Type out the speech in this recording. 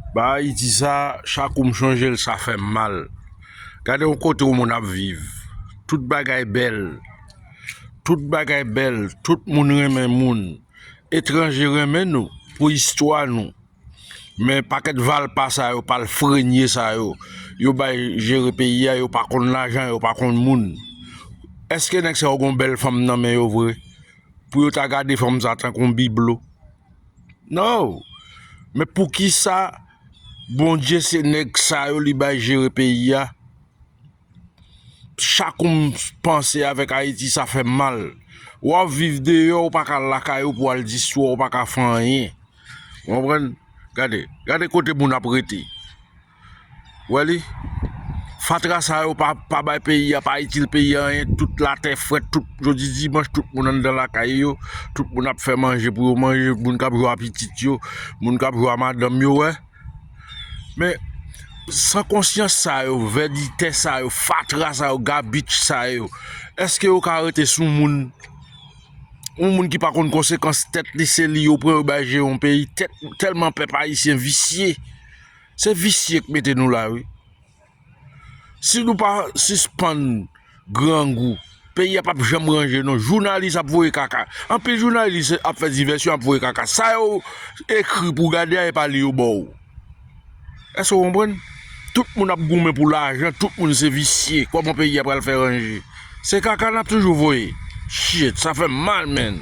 Ba Ayiti sa, chak ou m chanje l sa fè m mal. Gade yon kote yon moun ap viv, tout bagay bèl, tout bagay bèl, tout moun renmen moun, etranje renmen nou pou istwa nou. Men pakèt valpa sa yo, palfrenye sa yo, yo bay jere peyi a, yo pa konn lajan, yo pa konn moun. Eske nèg sa yo gen yon bèl fanm nan men yo vre? pou yo ta gade fanm sa tankou yon biblo. Non! Men pou ki sa Bondye se nèg sa yo li bay jere peyi a? Chak kou m panse avèk Ayiti sa fè m mal. W ap viv deyò ou pa ka al lakay ou pou al di swa ou pa ka fè anyen. Ou konprann? Gade, gade kote moun ap rete. Wè li? Fatra sa yo pa pa bay peyi a, pa itil peyi a anyen, tout latè frèt, tout jodi dimanch tout moun anndan lakay yo, tout moun ap fè manje pou yo manje, moun k ap jwe a pitit yo, moun k ap jwe a madanm yo wè. Men san konsyans sa yo, vèditè sa yo, fatra sa yo, gabich sa yo, èske yo ka rete sou moun? Yon moun ki pa konn konsekans tèt li, se li yo pran yo bay jere yon peyi, tèt tèlman pèp ayisyen visye. Se visye k mete nou la wi. Si nou pa sispann grangou, peyi a pap janm ranje non. Jounalis ap voye kaka. Anpil jounalis ap fè divèsyon ap voye kaka. Sa yo ekri pou gade a e pa li yo ba w. Èske ou konprann? Tout moun ap goumen pou lajan, tout moun se visye. Kòman peyi a pral fè ranje? Se kaka n ap toujou voye. Shit! Sa fè m mal menn.